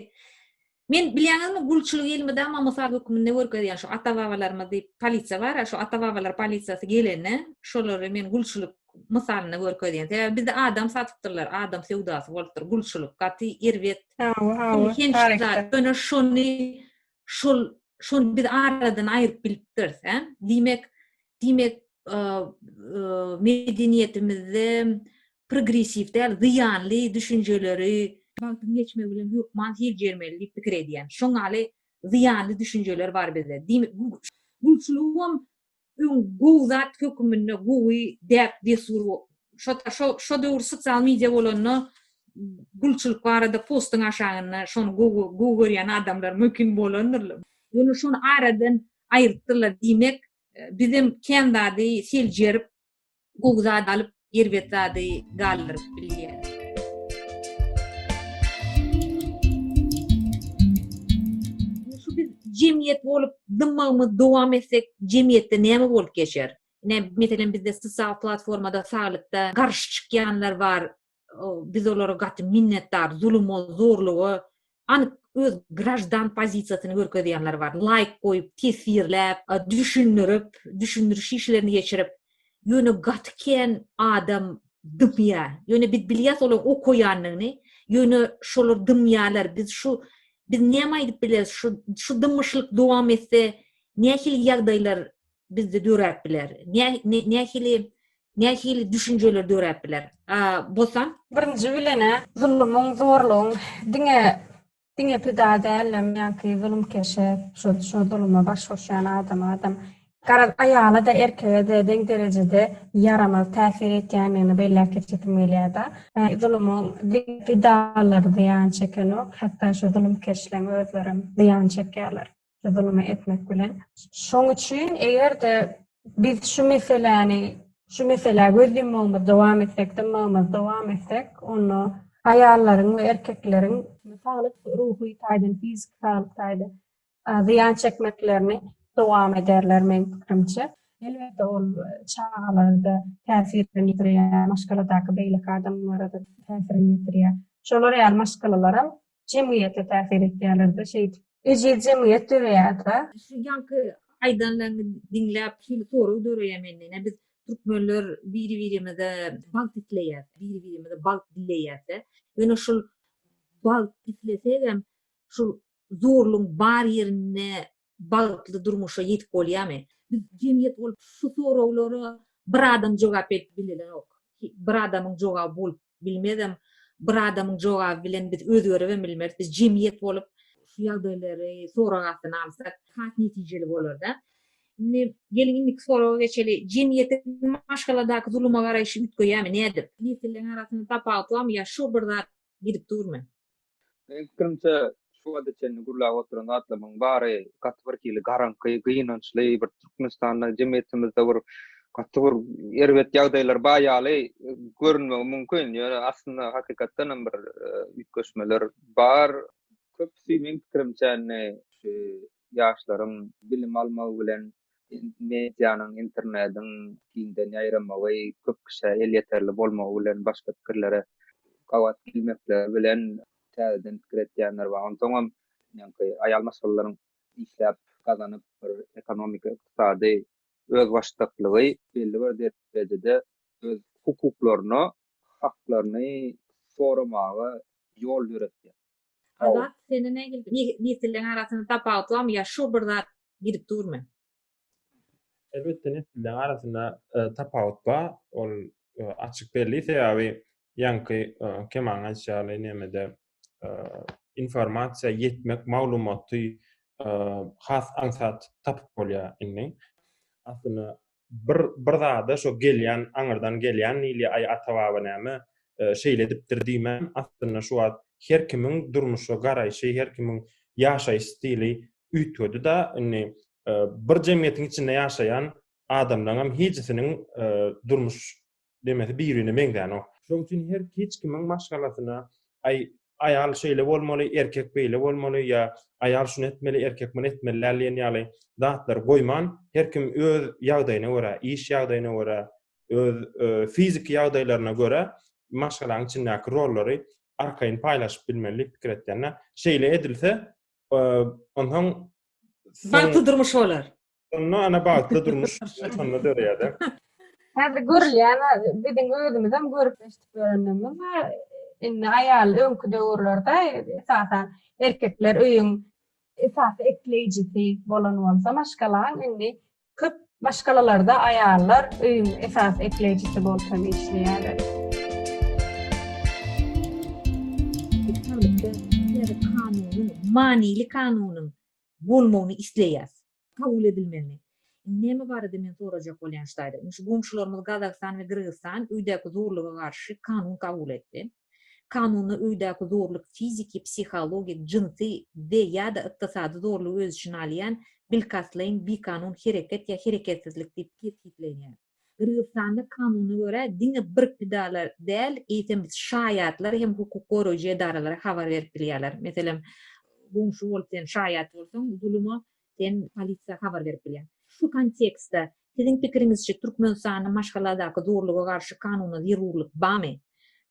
Men bilýäňizmi gulçulyk elmydama mysal hökmünde görkezýän şu ata babalarymyz diýip polisiýa bara şu ata babalar polisiýasy gelene şolary men gulçulyk mysalynda görkezýän sebäbi bizde adam satypdyrlar adam söwdasy bolupdyr gulçulyk gaty erbet hawa hawa ýöne şony şol şony biz aradan aýyryp bilipdiris hä diýmek diýmek, medeniýetimizde progressiw däl, zyýanly düşünjeleri wagtyň geçmegi bilen hökman seljermeli diýip pikir edýän. Şoň ýaly zyýanly düşünjeler bar bizde. Diýmek, gulçulygam öň gowy zat höküminde, gowy däp-dessur, şo-da şo, şo döwür sosial media bolanda gulçulyk barada postuň aşagynda şony gowy, gowy görýän adamlar mümkin bolandyr. Ýöne şony aradan aýrypdyrlar. Diýmek, bizem kän zady seljerip, gowy zat alyp, erbet zady galdyryp bilýäris. Şu biz jemgyýet bolup dymmagymy dowam etsek, jemgyýetde näme bolup geçer? Ine, meselem, bizde sosial platformada saglykda garşy çykýanlar bar, biz olara gaty minnetdar, zuluma, zorluga anyk öz grajdan pozisiýasyny görkezýänler bar. Laýk goýup, teswirläp, düşündirip, düşündiriş işlerini geçirip, ýöne gaty kän adam dymýar. Ýöne biz bilýäs olar okaýandygyny, ýöne şolar dymýarlar. Biz şu biz näme aýdyp bileris? Şu şu dymyşlyk dowam etse, nähili ýagdaýlar bizde döräp biler? Nä nähili nähili düşünjeler döräp biler? A Bosan birinji bilenä zulumyň, zorlugyň diňe diňe pida dälem ýa-ki zulumkeşe şu şu zuluma baş goşýan adama adam garaz aýala da erkege de deň derejede ýaramaz täsir etýändigini belläp geçesim gelýär-de. Zulumyň diňe pidalary zyýan çekenok, hatda şu zulumkeşleň özlerem zyýan çekýärler. zulum etmek bilen. Şoň üçin eger-de biz şu meseläni, şu meselä göz ýummagymyzy dowam etsek, dymmagymyzy dowam etsek, onda aýallaryň we erkekleriň saglyk, ruhy taýdan, fiziki saglyk taýdan zyýan çekmeklerini dowam ederler meň pikirimçe. Elbetde ol çagalarda täsirini ýitirýär, maşgaladaky beýleki adamlara-da täsirini ýitirýär. Şolar ýaly maşgalalaram jemgyýete täsir etýärler-de şeýdip ejiz jemgyýet döreýär-de. Şu ýaňky aýdanlaryňy diňläp şeýle sorag döreýär mende, ine biz türkmenler biri-birimize bagt isleýäs, biri-birimize bagt dileýäs-de, ýöne şul bagt islesegem şul zorlugyň bar ýerinde bagtly durmuşa ýetip bolýarmy? Biz jemgyýet bolup şu soraglara bir adam jogap berip bilenok. Bir adamyň jogaby bolup bilmezem. Bir adamyň jogaby bilen biz özgeribem bilmeris. Biz jemgyýet bolup şu ýagdaýlary sorag astyna alsak has netijeli bolarda. Indi geliň indiki soraga geçeli. Jemgyýetiň maşgaladaky zuluma garaýşy üýtgeýärmi? Nädip? Nesilleň arasynda tapawut barmy ýa şu bir zat gidip durmy? Meniň pikirimçe, şu wagta çenli gürläp oturan zatlarymyň bary gaty bir hili garaňky, gynançly, bir Türkmenistanda, jemgyýetimizde bir gaty bir erbet ýagdaýlar bar ýaly görünmegi mümkin. Ýöne aslynda hakykatdan hem bir üýtgeşmeler bar. Köpüsi meň pikirimçe indi şu ýaşlaryň bilim almagy bilen medianyň, internediň giňden ýaýramagy, köp kişä elýeterli bolmagy bilen başga pikirlere gabat gelmekleri bilen täzeden pikir edýänler bar. Onsoňam meňki aýal maşgalalaryň işläp gazanyp bir ekonomiki, ykdysady özbaşdaklygy belli bir derejede öz hukuklaryna haklaryny soramaga ýol döretýär. Azat sende nähili nesilleň arasynda tapawut barmy ýa şu bir zat gidip durmy? Elbetde nesilleň arasynda tapawut bar. Ol açyk belli sebäbi ýaňky Kemaň aýtşy ýaly nämede informasiýa ýetmek maglumaty has aňsat tapyp bolýar indi. Aslynda bir bir zada şo gelýän aňyrdan gelýän diýilýär aý ata baba näme şeýle edipdir diýmän aslynda şu wagt her kimiň durmuşa garaýşy her kimiň ýaşaýyş stili üýtgedi da indi bir jemgyýetiň içinde ýaşaýan adamlaryňam hijisiniň durmuş demesi birine meňzänok. Şoň üçin her hiç kimiň maşgalasyna aý aýal şeýle bolmaly, erkek beýle bolmaly ýa aýal şuny etmeli, erkek muny etmeli däl diýen ýaly zatlary goýman, her kim öz ýagdaýyna görä, iş ýagdaýyna görä, öz fiziki ýagdaýlaryna görä maşgalaň içindäki rollary arkaýyn paýlaşyp bilmeli diýip pikir etýän-ä. Şeýle edilse, onsoň bagtly durmuş bolar. Onda ana bagtly durmuş şonda döreýär-de. Häzir görülýän biziň özümizem görüp eşidip ýörenlerimiz bar. Indi aýal öňki döwürlerde esasan erkekler öýüň esasy ekleýjisi bolan bolsa maşgalaň indi köp maşgalalarda aýallar öýüň esasy ekleýjisi bolup hem işleýärler. Kanunyň, manyly kanunyň bolmagyny isleýäs. Kabul edilmegini. Indi näme barada men sorajak bolýan ştaýda. Indi şu goňşularymyz Gazagystan we Gyrgyzystan öýdäki zorluga garşy kanun kabul etdi. Kanunda öýdäki zorluk fiziki, psihologik, jynsy we, ýa-da, ykdysady zorlugy öz içine alýan bilkastlaýyn bikanun hereket ýa hereketsizlik diýip kesgitlenýär. Gyrgyzystanda kanuna görä, diňe bir pidalar däl, eýsem şaýatlar hem hukuk goraýjy edaralara habar berip bilýärler. Meselem, goňşy bolup sen şaýat bolsaň, zuluma sen polisiýa habar berip bilýäň. Şu kontekstde, siziň pikiriňizçe, Türkmenistanda maşgaladaky zorluga garşy kanuna zerurlyk barmy?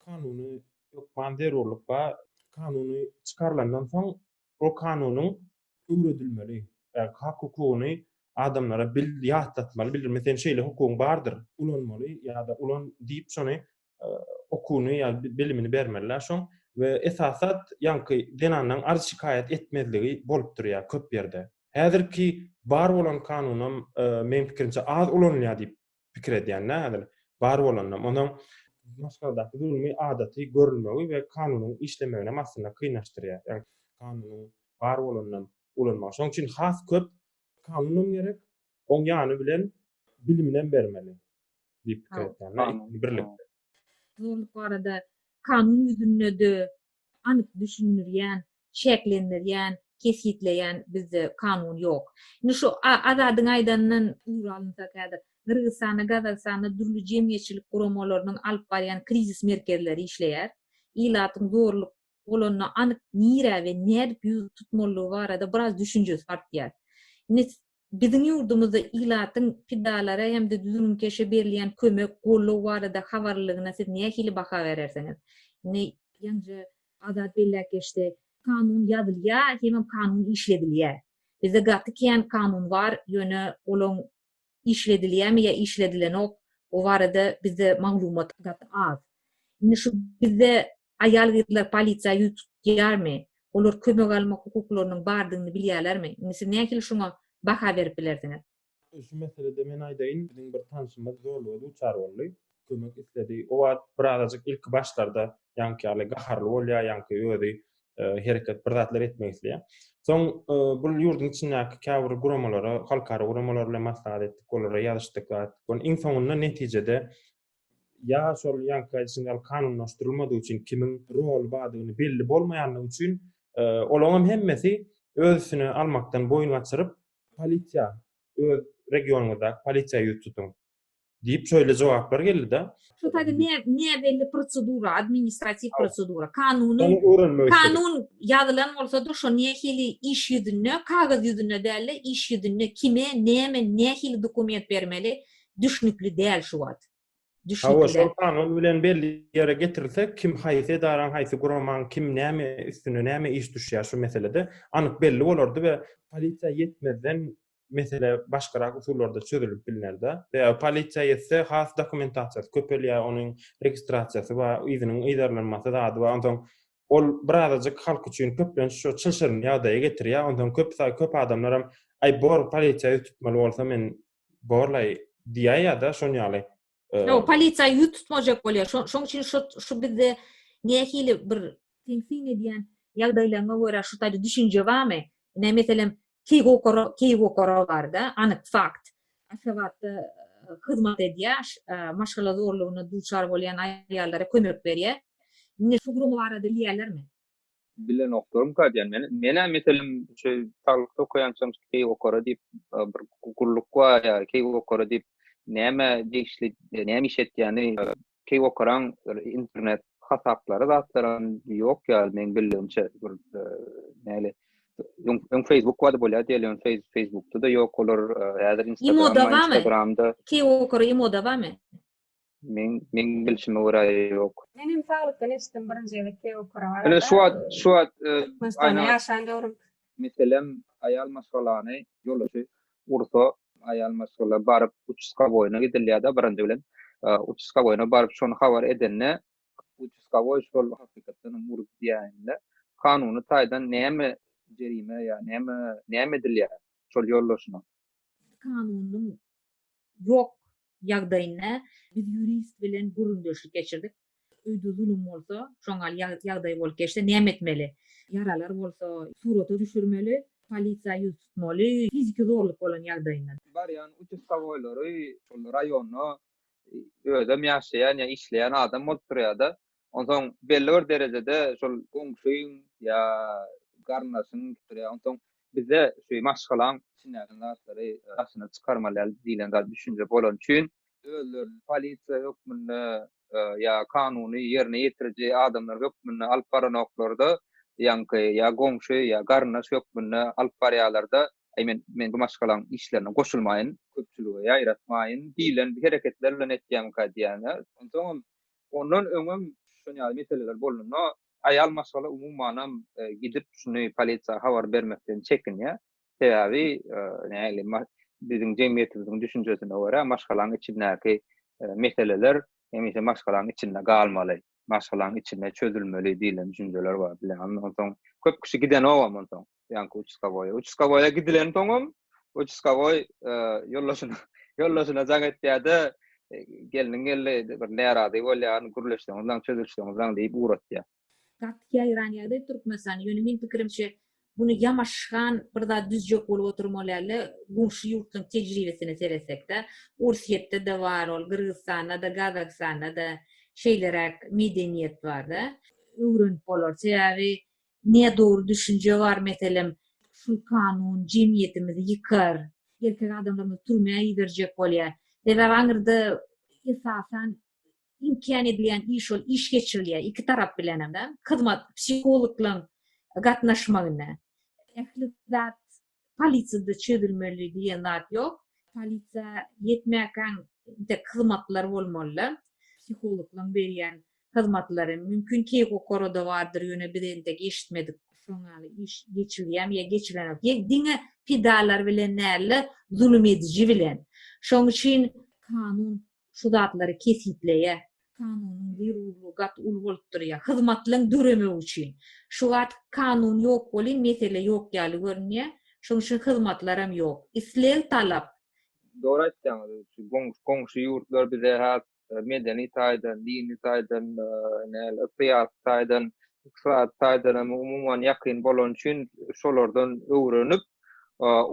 Kanuna hökman zerurlyk bar. Kanuny çykarylandan soň, ol kanunyň öwredilmeli. Äk hak hukugyny adamlara bil ýatlatmaly bildirme seň şeýle hukugyň bardyr. Ulanmaly ýa-da ulan diýip şony okuny ýa bilimini bermeliler şoň we esasat ýaňky zenanlaň arz şikaýat etmezligi bolup durýar köp ýerde. Häzirki bar bolan kanunam meň pikirimçe az ulanylýar diýip pikir edýän-dä häzir. Bar bolanam, onsoň Maşgaldaky zulmy adaty görülmegi we kanunyň işlemeginem aslynda kynlaşdyrýar. Ýagny kanunyň bar bolanam ulanmagy. Şonuň üçin has köp kanunam gerek, oň ýany bilen biliminem bermeli diýip pikir edýän-dä, ikisini birlikde. Zulumlyk barada kanun ýüzünde-de, anyk düşündirýän, çäklendirýän, kesgitleýän bizde kanun ýok. Indi şu Azadyň aýdanyndan ugur alynsak häzir, Gyrgyzystanda, Gazagystanda dürli jemgyýetçilik guramalarynyň alyp barýan krizis merkezleri işleýär. Ilatyň zorluk bolanda anyk nirä we nädip ýüz tutmalydygy barada biraz düşünjesi artýar. Indi Biziň ýurdumyzda ilatyň pidalara hem-de düzgünkeşe berilýän kömek, goldaw barada habarlylygyna siz nähili baha berersiňiz? Indi ýaňja Azat belläp geçdi, kanun ýazylýar hemem kanun işledilýär. Bizde gaty kän kanun bar, ýöne olaň işledilýärmi ýa işledilenok, o barada bizde maglumat gaty az. Indi şu bizde Aýal-gyzlar polisiýa ýüz tutýarmy? Olar kömek almak hukuklarynyň bardygyny bilýärlermi? Indi siz nähili şoňa baha berip bilersiňiz? Şu meselede men aýdaýyn, biziň bir tanşymyz zorluga duçar boldy, kömek isledi. O wagt birazajyk ilki başlarda ýaňky ýaly gaharly bolýar, ýaňky özi hereket, bir zatlar etmek isleýär. Soň bu ýurduň içindäki käbir guramalara, halkara guramalar bilen maslahat etdik, olara ýazyşdyk, zat etdik. Iň soňunda netijede ýa şol ýaňky aýdyşyň ýaly kanunlaşdyrylmadygy üçin kimiň roly bardygyny belli bolmaýandygy üçin olaňam hemmesi öz üstüne almakdan boýun gaçyryp, Polisiýa, öz regionyňyzdaky polisiýa ýüz tutuň! diýip şeýle jogaplar geldi-de. Şu taýda näbelli prosedura, administratiw prosedura. Kanunyň, kanun ýazylan bolsa-da şo nähili iş ýüzünde, kagyz ýüzünde däl-de, iş ýüzünde kime, näme, nähili dokument bermeli, düşnükli däl şu wagt. Hawa, şol kanun bilen belli ýere getirilse, kim haýsy edaraň, haýsy guramaň, kim näme üstüne näme iş düşýär şu meselede anyk belli bolardy we polisiýa ýetmezden mesele başgarak usullarda çözülip bilnerdi. Sebäbi polisiýa ýetse, has dokumentasiýasy köpelýär, onuň registrasiýasy bar, yzynyň yzarlanmasy zady bar. Onsoň ol birazajyk halk üçin köplenç şo çylşyrymly ýagdaýa getirýär. Onsoň köp köp adamlar hem, Aý, bor, polisiýa ýüz tutmaly bolsa, men borlaý diýýär ýa-da şon ýaly. Ýok, polisiýa ýüz tutmajak bolýar. Şoň üçin şu şu bizde nähili bir teňsin edýän ýagdaýlaryňa görä şu taýda düşünje barmy? Ine, meselem, Keýgokara, Keýgokara barda anyk fakt. Aşgabatda hyzmat edýär, maşgala zorlugyna duçar bolýan aýallara kömek berýär. Indi şu gurum barada bilýärlermi? Bilenoklarymka diýen men. Menä meselem şu saglykda okaýançam keý okara diýip bir gulluk bar ýa keý okara diýip näme degişli näme iş etýäni keý okaran internet hasaplary zatlaram ýok ýaly meň bildigimçe bir näle öň Facebook wady bolýar diýeli öň Facebookda da ýok olar häzir Instagramda Instagramda keý okara ýa moda barmy? Men men bilşime görä ýok. Men hem saglykdan eşitdim birinji gezek Keokura barada. Ine şu wagt şu wagt e, Türkmenistanda ýaşan döwrüm. Meselem aýal maşgalany ýoldaşy ursa aýal maşgala baryp uçuska boýuna gidilýär-de birinji bilen. E, uçuska boýuna baryp şony habar edende uçuska boý şol hakykatdan hem urup diýende kanuny taýdan näme jerime ýa näme näme edilýär şol ýoldaşyna? Kanunyň ýok ýagdaýynda biz ýurist bilen gürrüňdeşlik geçirdik. Öýde zulum bolsa, şoňal ýagdaý bolup geçse näme etmeli? Ýaralar bolsa surata düşürmeli, polisiýa ýüz tutmaly, fiziki zorluk bolan ýagdaýynda. Barýan uçustowoýlary şol raýonda özem ýaşaýan ýa işleýän adam bolup durýar-da. Onsoň belli bir derejede şol goňşyň ýa garyndaşyň pikiri, onsoň bizde şu maşgalaň içindäki zatlary daşyna çykarmaly däl diýlen zat düşünje bolany üçin, özlerini polisiýa hökmünde ýa kanuny ýerine ýetiriji adamlar hökmünde alyp baranoklar-da, ýaňky ýa goňşy ýa garyndaş hökmünde alyp barýarlar-da, Aý, men, men bu maşgalaň işlerine goşulmaýyn, köpçülige ýaýratmaýyn diýlen hereketler bilen etýärmikä diýýän-ä. Onsoňam Ondan öňem şun ýaly meseleler bolanda aýal maşgala umumanam gidip şuny polisiýa habar bermekden çekinýär. Sebäbi nähili biziň jemgyýetimiziň düşünjesine görä maşgalaň içindäki meseleler hemişe maşgalaň içinde galmaly, maşgalaň içinde çözülmeli diýlen düşünjeler bar. Onsoň köp kişi gidenogam onsoň. ýaňky uçuskawoýa. Uçuskawoýa gidilen soňam uçuskawoý e, ýoldaşyna ýoldaşyna jaň etýärdi. E, gelniň geldi bir närazy bolýan, gürleşseňizden, çözülseňizden diýip uratýar. Gaty ýaýran ýagdaý Türkmenistan. Ýöne men pikirimçe bunu ýamaşgan bir zat düzjek bolup oturmalyarle goňşy ýurtlaryň tejribesine seretsekde, Orsýetde de bar ol, Gyrgyzstanda da, Gazagystanda da şeýleräk medeniýet barda. Öwrenip bolar. Sebäbi Nä dogry düşünje bar meselem. Şul kanun jemgyýetimizi ýykar. Erkek adamlarymyzy türmä iberjek bolýar. Sebäbi aňyrda esasan inkän edilýän iş ol iş geçirilýär iki tarap bilenem. Hyzmat psihologlaň gatnaşmagynda. Ähli zat polisiýada çözülmeli diýen zat ýok. Polisiýa ýetmäkäň entek hyzmatlar bolmalyda. Psihologlaryň berýän hyzmatlary mümkin Keýgokorada bardyr ýöne biz entek eşitmedik. Şoň ýaly iş geçilýämi ýa geçilenok. Ýek diňe pidalar bilen däl-de zulum ediji bilen. Şoň üçin kanun şu zatlary kesgitleýär. Kanunyň zerurlygy gaty uly bolup durýar. Hyzmatlaryň döremegi üçin. Şu wagt kanun ýok welin mesele ýok ýaly görünýär. Şonuň üçin hyzmatlaram ýok. Isleg, talap. Dogry aýtýaňyz. Şu goňşy ýurtlar bize has medeni taýdan, dini taýdan, näle, syýasy taýdan, ykdysady taýdanam umuman ýakyn bolany üçin şolardan öwrenip,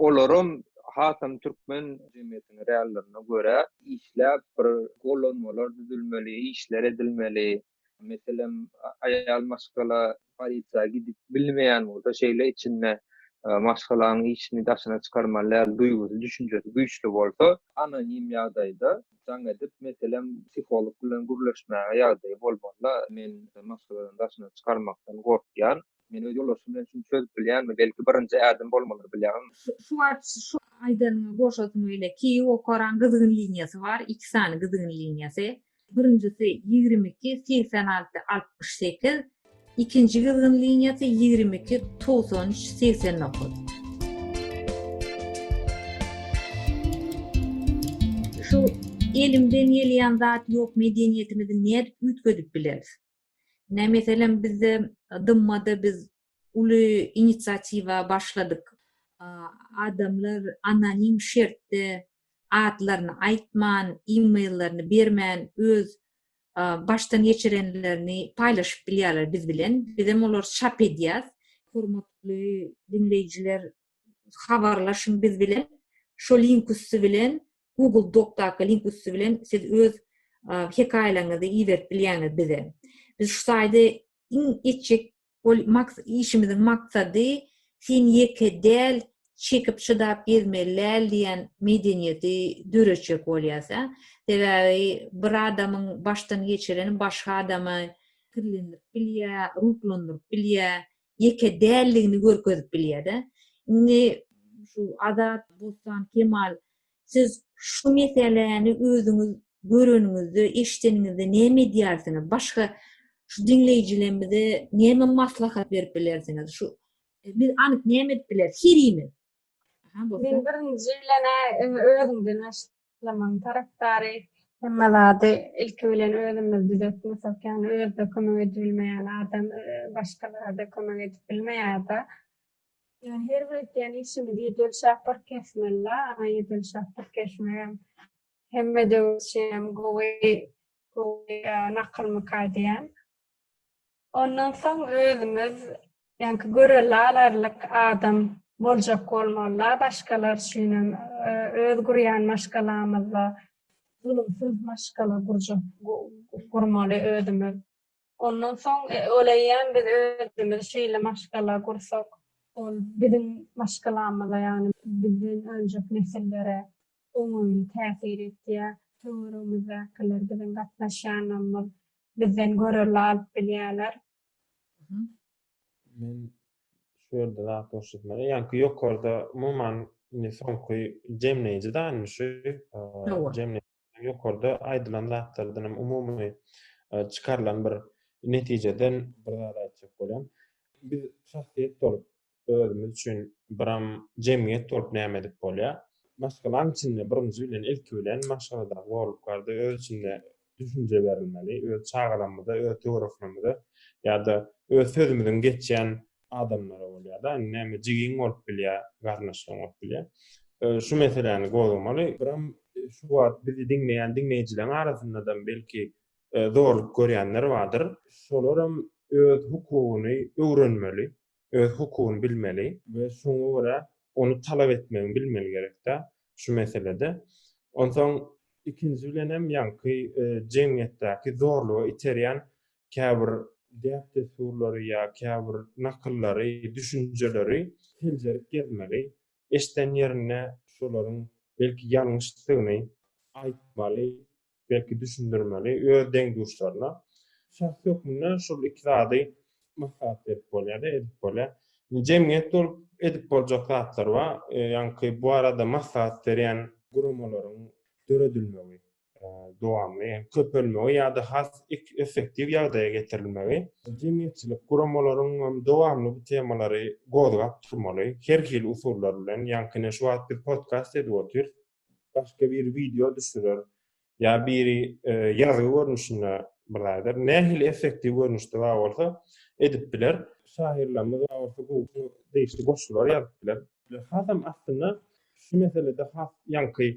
olaram hasam türkmen jemgyýetiniň reallerine görä işläp bir gollanmalar düzülmeli, işler edilmeli. Meselem, aýal maşgala polisiýa gidip bilmeýän bolsa, şeýle içinde maşgalanyň işini daşyna çykarmaly däl duýgusy, düşünjesi güýçli bolsa, anonim ýagdaýda jaň edip, meselem, psiholog bilen gürleşmäge ýagdaýy bolmaly-da, men maşgaladan daşyna çykarmakdan gorkýan, Men öz ýoldaşym bilen şuny çözüp bilýänmi? Belki birinji ädim bolmalydyr bilýäňizmi? Şu wagt şu aýdanyňa goşasym öýle ki okaran gyzgyn liniýasy bar iki sany gyzgyn liniýasy. Birinjisi ýigrimi iki segsen alty altmyş sekiz ikinji gyzgyn liniýasy ýigrimi iki togsan üç segsen dokuz. Şu elimden gelýän zat ýok medeniýetimizi nädip üýtgedip bileris. Ine, meselem, bizde DMMA-da biz uly inisiatiwa başladyk. Adamlar anonim şertde adlaryny aýtman, e-mail-lerini bermän, öz başdan geçirenlerini paýlaşyp bilýärler biz bilen. Bizem olary çap edýäs. Hormatly diňleýjiler, habarlaşyň biz bilen. Şu link üsti bilen Google Docdaky link üsti bilen siz öz hekaýalaryňyzy iberip bilýäňiz bize. Biz şu saýdy iň etjek ol maks işimiziň maksady sen ýeke däl çekip çydap gezmeli däl diýen medeniýeti döretjek bolýas a. Sebäbi bir adamyň başdan geçireni başga adamy kirlendirip bilýär, ruhlandyryp bilýär. ýeke däldigini görkezip bilýär-de. Indi şu Azat, Bossan, Kemal, siz şu meseläni özüňiz göreniňizde, eşideniňizde näme edýärsiňiz? Başga şu diňleýjilerimize näme maslahat berip bilersiňiz? Şu biz anyk näme edip bileris herimiz? Men birinji bilen-ä özümden Yslamyň tarapdary hemme zady ilki bilen özümiz düzetmesek, ýagny özde kömek edibilmeýän adam başgalara-da kömek edip bilmeýär-de. Ýöne her bir etýän işimiz ýedel şapyr kesmeli-la, ana ýedel şapyr kesmegem hemme döwür üçinem gowy, gowy nakylmyka diýýän. Ondan soň özümiz ýaňky görelle alarlyk adam boljak bolmaly-la başgalar üçin hem öz gurýan maşgalamyzda zulumsyz maşgala gurjak gurmaly özümiz. Ondan soň öleýän biz özümiz şeýle maşgala gursak ol biziň maşgalamyza ýagny bizden öňjek nesillere oňaýly täsir etýär. Töweregimizdäkiler biziň gatnaşýanlarymyz bizden görelde alyp bilýärler. Men şu ýerde zat görşetmeli. Ýaňky ýokarda umuman indi soňky jemleýji danymy şu jemleýji ýokarda aýdylan zatlardan hem umumy çykarylan bir netijeden bir zat aýtjak bolýan. Biz şahsyýet bolup özümiz üçin biram jemgyýet bolup näme edip bolýar? Maşgalaň içinde birinji bilen, ilki bilen maşgaladaky borluklarda öz içinde düşünje berilmeli, öz çagalarymyza, öz töwereklerimize ýa-da öz sözümiziň geçýän adamlara bolýar-da, indi näme jigiň bolup bilýär, garyndaşlaryň bolup bilýär. Şu meseläni gozgamaly. Biram şu wagt bizi diňleýän diňleýjileriň arasynda-da belki zorluk görýänler bardyr. Şolaram öz hukugyny öwrenmeli. öz hukugyny bilmeli we şoňa görä ony talap etmegini bilmeli gerekdä şu meselede. Onsoň ikinji bilen hem ýaňky jemgyýetdäki zorluga iterýän käbir däp-dessurlary ýa käbir nakyllary, düşünjeleri seljerip gezmeli, eşden ýerinde şolaryň belki ýalňyşdygyny aýtmaly, belki düşündirmeli öz deň-duşlaryna. Şahs hökmünde şol iki zady maslahat berip bolýar-da, edip bolýar. Jemgyýet bolup edip boljak zatlar bar, ýaňky bu barada maslahat berýän guramalaryň döredilmegi, dowamly hem köpelmegi ýa-da has effektiw ýagdaýa getirilmegi. Jemgyýetçilik guramalaryň hem dowamly bu temalary gozgap durmaly, her hili usullar bilen, ýaňky ine şu wagt biz podkast edip otyrys, başga biri wideo düşürer, ýa biri ýazgy görnüşinde bir zat eder. Nähili effektiw görnüşde bar bolsa edip biler. Şahyrlarymyz bar bolsa gowy degişli goşgular ýazyp biler. Hasam aslynda şu meselede has ýaňky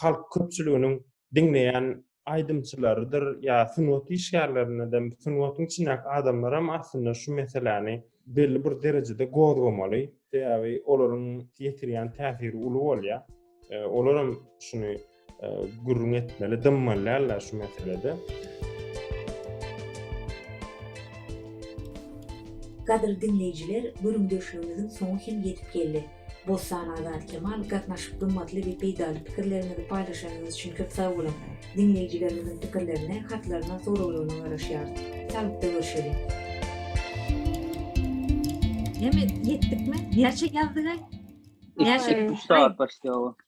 halk köpçüliginiň diňleýän aýdymçylarydyr ýa sungat işgärlerine de sungatyň içindäki adamlaram aslynda şu meseläni belli bir derejede gozgamaly sebäbi olaryň ýetirýän täsiri uly bolýa olaram şuny gürrüň etmeli dymmalýarlar şu meselede Gadyrly diňleýjiler gürrüňdeşligimiziň soňy hem ýetip geldi. Bossan Azat Kemal gatnaşyp gymmatly we peýdaly pikirleriňizi paýlaşanyňyz üçin köp sag boluň. Diňleýjilerimiziň pikirlerine, hatlaryna, soraglaryna garaşýarys. Sagykda görşeliň. Heme ýetdikmi? Näçe ýazdyk-aý? Näçe? Üç sagat başlaýar.